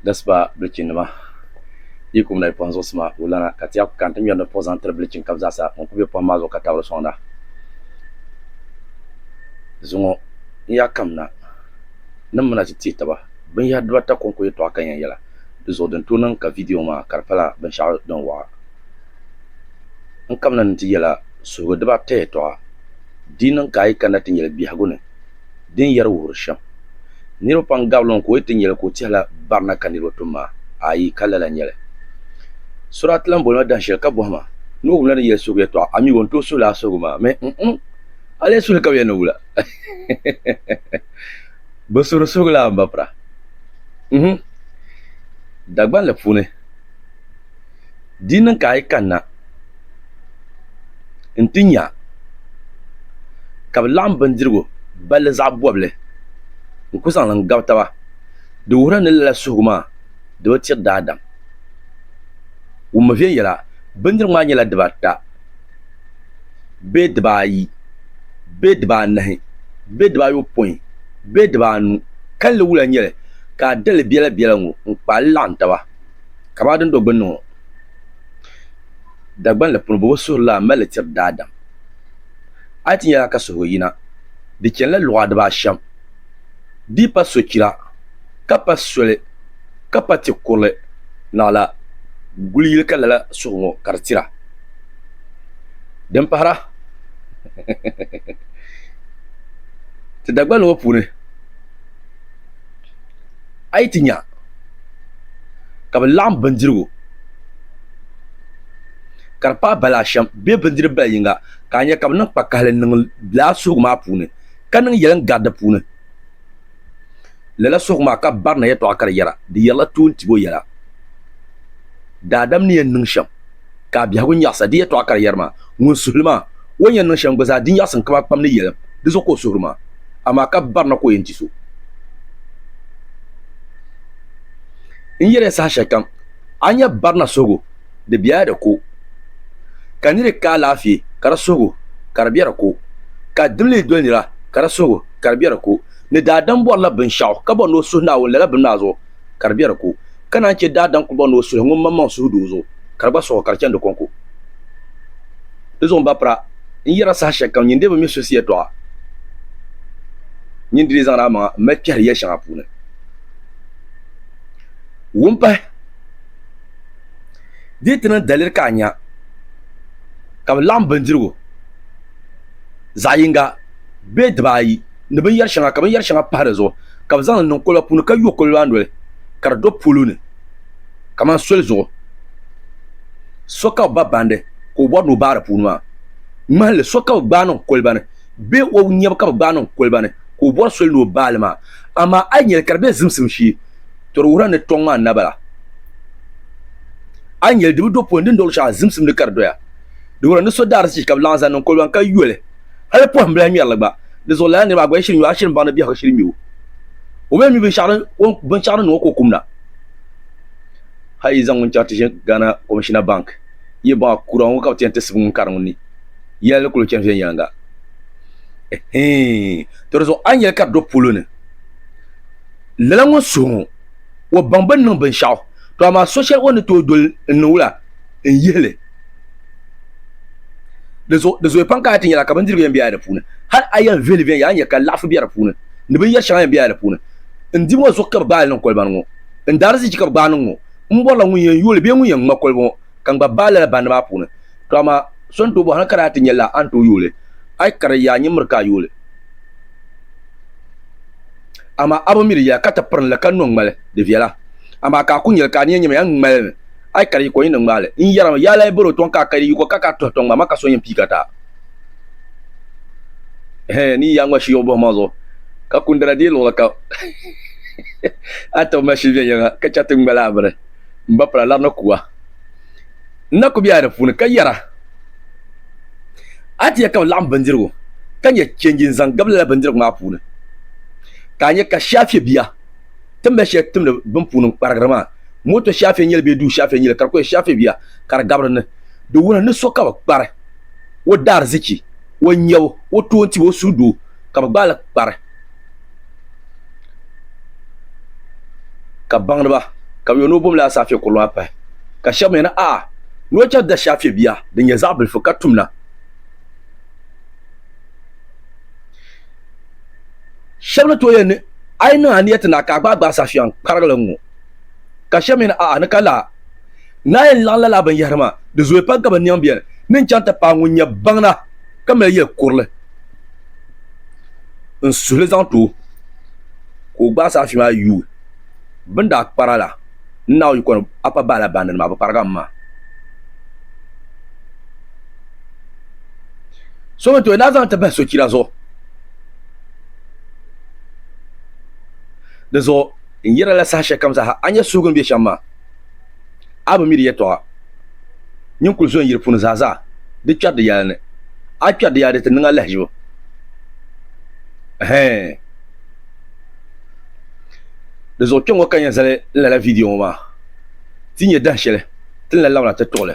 dasiba bilichin nima yi kum lahi kpuɣi n zuɣusi maa o lana ka ti yɛn kana ti ŋmɛri ni puɣi zaŋ tiri bilichin kam zaa sa ŋun kuli bɛ pɔhim maa zuɣu ka tabiri sɔŋda zuŋɔ n yaa kam na ni n mi na ti tɛɛ taba bin yahiri diba ata kɔŋko yɛtɔɣa ka n yɛn yɛla di zuɣu din tooi niŋ ka vidiyo ŋɔ maa ka di pala binshɛɣu din wɔɣa n kamina ni n ti yɛla suhigu diba ata yɛtɔɣa di niŋ ka a yi kanna ti nyɛli biɛhigu ni. din yɛri wuhiri shɛm. Niriba pam gabila o ni ka o yi ti nya li ka o tɛhila barina ka niriba tum maa? Aai, ka lala nyɛli. Surat ti lan boli ma dahin shɛli ka bɔhi ma, Nuhu wumla ni yɛli suhigu yɛtɔɣa, amigo n-tooi suhi lala suhigu maa? Mi n-ŋ! A lee suhi li ka bɛ yɛli ni wula? Bɛ suhiri suhigu la a ni ba pira? Uhum! Dagbanli puuni. Di ni ka a yi kanna nti nya ka bɛ laɣim bindirigu balli zaɣ bɔbili n-ku zaŋ li n-gabi taba, di wuhirila ni lala suhigu maa di bi tiri daadam. Wummi viɛnyɛla, Bindirigu maa nyɛla dibaata bee dibaayi bee dibaanahi bee dibaayopɔin bee dibaanu, kalinli wula n-nyɛ li ka a dali biɛlabiɛla ŋɔ n-kpaai li laɣim taba. Kamani din do gbunni ŋɔ, Dagbani la puuni bɛ bi suhuri lana m-mali li tiri daadam. A yi ti nya lala ka suhigu yina, di chanila luɣa dibaa ashɛm, di yi pa sochira, ka pa soli, ka pa ti kurili naɣila guli yili ka lala suhigu ŋɔ ka di tira. Din pahira, ti Dagbani ŋɔ puuni. A yi ti nya ka bɛ laɣim bindirigu ka di paai bala ashɛm bee bindiri bala yiŋga, ka a nya ka bɛ niŋ kpakahili niŋ lala suhigu maa puuni, ka niŋ yɛlim gari di puuni, lala suhigu maa ka barina yɛtɔɣa ka di yɛra, Di yɛrila toontibo yɛla, daadam ni yɛn niŋ shɛm. Ka a biɛhigu nyaɣisa di yɛtɔɣa ka di yɛri ma, Ŋun suhi li maa, o ni yɛn niŋ shɛm gba zaa, di nyaɣisim ka maa kpam ni yɛlim, di zuɣu ka o suhiri ma. Amaa ka barina ka o yɛn di so. N yɛli ya saha shɛli kam, a ni nya barina suhigu, di bela di ko. Ka niri ka alaafee, ka di suhigu, ka di be di ko. Ka dimli doli nira, ka di suhigu, ka di be di ko. Ni daadam bɔrila binshɛɣu, ka bɔri ni o suhi Naawuni lala bini maa zuɣu, ka di be di ko, ka naan chɛ daadam kpibɔŋ ni o suhi ŋun maŋmaŋ suhu doo zuɣu, ka di gba suɣi ka di chani di kɔŋko. Di zuɣu m ba pira, n yɛra saha shɛlikam nyin dee bi mi so si yɛtɔɣa, nyin di lee zaŋdi a maŋa m-mali kpɛhiri yɛl shɛŋa puuni. Wumpahi, Dee ti niŋ daliri ka a nya ka bɛ laɣim bindirigu zaɣ yiŋga bee dibaayi. ni binyɛri shɛŋa ka binyɛri shɛŋa pahi di zuɣu ka bi zaŋ li niŋ koliba puuni ka yo koliba maa noli ka di do polo ni kamani soli zuɣu so ka bi ba bandi ka o bɔri ni o baai di puuni maa ŋmahili so ka bi gbaai niŋ koliba ni bee o nyɛbu ka bi gbaai niŋ koliba ni ka o bɔri soli ni o baai li maa amaa a yi nyɛ li ka di bɛ zimsim shee to di wuhirila ni tɔŋ maa na bala a yi nyɛ li di bi do polo ni di ni do luɣushɛli zimsim ni ka di doya di wuhirila ni so daa di sii ka bi laɣim zaŋ niŋ koliba ni ka yo li Hali pɔhim bila ŋmɛrili gba, di zuɣu lala niriba agɔya shiri nyu, a shiri m-baŋ ni biɛhigu shiri mi o. O mi ni mi binshɛɣu ni niŋ o ka o kum na. Hal yi zaŋ ŋun chaŋ ti ʒini Ghana Commissioner Bank, yi baŋ a kura ŋɔ ka bɛ ti yɛn ti sibi ŋun kari ŋun ni, yɛla di kul chani viɛnyɛliŋga. Ɛhii! Tɔ di zuɣu a ni yɛli ka di do polo ni, lala ŋun suhi ŋɔ, o baŋ bɛ ni niŋ binshɛɣu, tɔ amaa so shɛli o ni tooi doli n-niŋ wula? n yihi li. Di zo, di zooi pam ka a ti nyɛla ka bindirigu yɛn bɛya di puuni. Hal a yɛn vihi li viɛnyɛla n-nyɛ ka laɣifu bɛ di puuni ni binyɛr shɛŋa yɛn bɛya di puuni. N di ŋɔ zuɣu ka bɛ gbaai li niŋ koliba ni ŋɔ. N daarizichi ka bɛ gbaai niŋ ŋɔ. M bɔrila ŋun yɛn yooi li bee ŋun yɛn ŋma koliba ŋɔ ka n gba baai lala bandi maa puuni. To amaa, so n-tooi bɔhi a ka daa ti nyɛ lala a ni tooi yooi li? A yi kari yaa nyimmiri ka a yooi li. Amaa a bi mi di yɛla ka ti piri ni li ka no n-ŋma li. Di viɛla. Amaa ka a ku nyɛ li ka a ni yɛn nyɛ ma, yaa n-ŋma li mi. Ay kari yiko yini ŋmaali n yɛrima yaa lahi boro tɔŋ ka a kari yiko ka ka tuhi tɔŋ maa ma ka so yɛn pii ka taa hee ni yaa ŋma shiyɔɣu buhi ma zuɣu ka kundana deei luɣili kam a tɔbu ma shili viɛnyɛliŋa ka chɛ ti ŋmali a mini m ba pala lari ni kuwa n na ku be a di puuni ka yɛra a ti yɛ ka bɛ laɣim bindirigu ka nyɛ change n zaŋ gabi lala bindirigu maa puuni ka a nyɛ ka shaafiɛ bia ti mali shɛli timdi bin puuni n kparigiri maa Moto shɛfɛ nyɛli bee duu shɛfɛ nyɛli ka di kuli shɛfɛ bia ka di gabiri ni. Di wuhi ni so ka bɛ kpari o daarizichi, o nyabu, o toontibu, o suhudoo ka bɛ gbaai li kpari ka baŋdiba ka bɛ yo ni o bomli asaafee kurili maa pahi. Ka shɛba mi yɛli, Aah! Ni o chɛri dashɛfɛ bia din nyɛ zaɣ bilifu ka tum na. Shɛba ni tooi yɛli ni, A yi niŋ a niyati na ka a gbaai gbaai safiɛŋ kparigili ŋ-ŋɔ. Ka shɛba mi ni, A'a, ni ka laa ni a yɛn laɣim lala binyɛhiri maa, di zooya pam ka bɛ niɛm beni ni n-chaŋ ti paai ŋun nyɛ baŋda ka mali yɛl kurili n-suhi li zaŋ ti o ka o gbaai saafia maa yuui bɛ ni daa kpari a la. N Naawuni yiko ni a pa bahi la baŋdinima, a bi kparigi a mi maa. So mi ni tooi lahi zaŋ li ti bahi sochira zuɣu. Di zuɣu n yɛri la saha shɛlikam zaa ha, a ni nya suhigu ni be shɛm maa, a bi mi di yɛtɔɣa. Nyin kul zo n yiri puuni zaa zaa, di kpɛri di yɛla ni. A kpɛri di yɛla di ti niŋ a lahiʒibu. Ɛhɛɛn. Di zuɣu kpɛŋŋɔ ka n yɛn zali n lala viidiyo ŋɔ maa, ti ni yɛn dahin shɛli ti ni lahi labina ti tuɣi li.